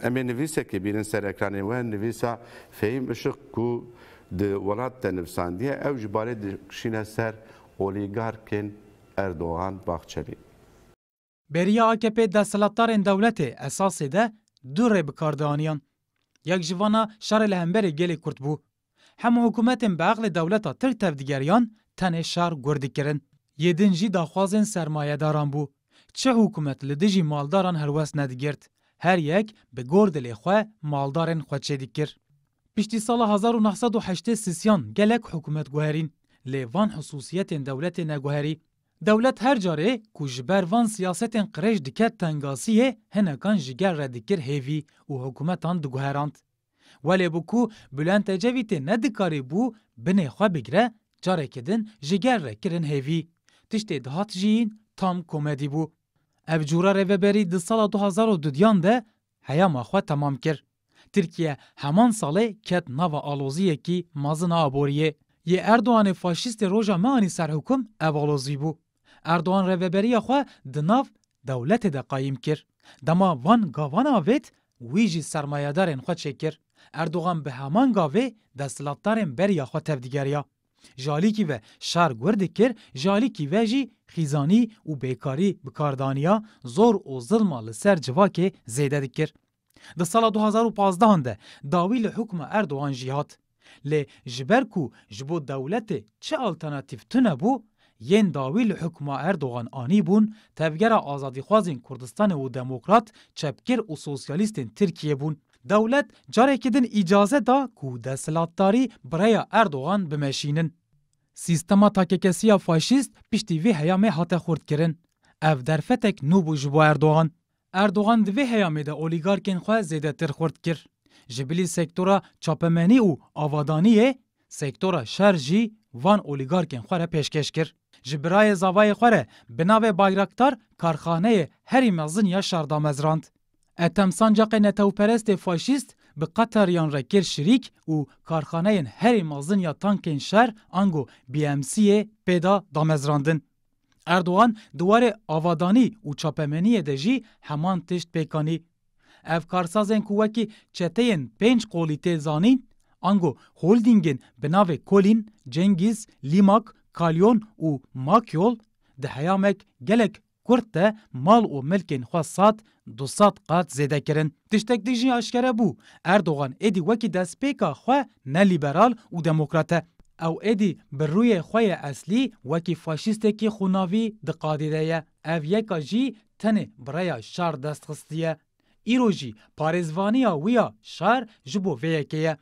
Em ê nivîsekê bînin ser ekranê we, nivîsa Fehîm Işık ku di Welat de nivîsandiye, ew ji barê dikişîne ser olîgarkên Erdogan, Bahçeli. Beriya akp desthilatdarên dewletê esasê de du rê bi kar dianiyan. Yek ji van a şerê li hemberî gelê kurd bû. Hemû hikûmetên bi eqlê dewleta Tirk tevdigeriyan tenê şer gur dikirin. Yê din jî daxwazên sermayedaran bû. Çi hikûmet li dijî maldaran helwest nedigirt. Her yek bi gor dilê xwe maldarên xwe çêdikir. Piştî sala hezar û neh sed û heştê sisiyan gelek hikûmet guherîn. Lê van husûsiyetên dewletê neguherî. Dewlet her carê ku ji ber van siyasetên qirêj diket tengasiyê hinekan ji gel re dikir hêvî û hikûmetan diguherand. Welê bi ku Bulent Ecevîtê ne dikarî bû binê xwe bigire, carekî din ji gel re kirin hêvî. Tiştê dihat jiyîn tam komedî bû. Ev cûra rêveberî di sala du hezar û du yan de heyama xwe temam kir. Tirkiye heman salê ket nava aloziyekî mezin a aboriyê. Yê Erdoganê faşîstê roja me anî ser hûkum ev alozî bû. Erdogan rêveberiya xwe di nav dewletê de qayîm kir. Dema van gavan avêt wî jî sermayedarên xwe çêkir. Erdogan bi heman gavê desthilatdarên beriya xwe tevdigeriya. Ji alîkî ve şer gur dikir, ji alîkî ve jî xîzanî û bêkarî bi kar daniya, zor û zilma li ser civakê zêde dikir. Di sala du hezar û pazdeh an de dawî li hukma Erdogan jî hat. Lê ji ber ku ji bo dewletê çi alternatîf tune bû, yên dawî li hukma Erdogan anîbûn Tevgera Azadîxwazên Kurdistanê û Demokrat, Çepgir û Sosyalîstên Tirkiyê bûn. Dewlet carekî din îcaze da ku desthilatdarî bi rêya Erdogan bimeşînin. Sîstema takekesiya faşîst piştî vê heyamê hate xurtkirin. Ev derfetek nû bû ji bo Erdogan. Erdogan di vê heyamê de olîgarkên xwe zêdetir xurt kir. Ji bilî sektora çapemenî û avadaniyê, sektora şer jî van olîgarkên xwe re pêşkêş kir. Ji birayê zavayê xwe re bi navê Bayraktar karxaneyê herî mezin ya şer damezrand. Ethem sancaqê netewperestê faşîst bi Qetariyan re kir şirîk û karxaneyên herî mezin ya tankên şer ango BMC'ê pê da damezrandin. Erdogan di warê avadanî û çapemeniyê de jî heman tişt pêk anî. Ev karsazên ku wekî çeteyên pênc qolî tê zanîn, ango holdîngên bi navê Kolîn, Cengîz, Lîmak, Kalyon û Makyol di heyamek gelek kurt de mal û milkên xwe sat Du sed qat zêde kirin. Tiştek din jî aşkere bû, Erdogan êdî wekî destpêka xwe ne lîberal û demokrat e. Ew êdî bi rûyê xwe yê eslî wekî faşîstekî xûnavî di qadê de ye. Ev yeka jî tenê bi rêya şer dest xistiye. Îro jî parêzvaniya wî ya şer ji bo vê yekê ye.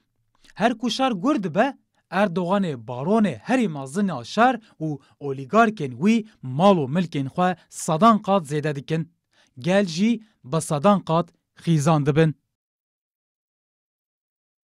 Her ku şer gur dibe, Erdoganê baronê herî mezin ya şer û olîgarkên wî mal û milkên xwe sedan qat zêde dikin. Gel jî bi sedan qat xîzan dibin.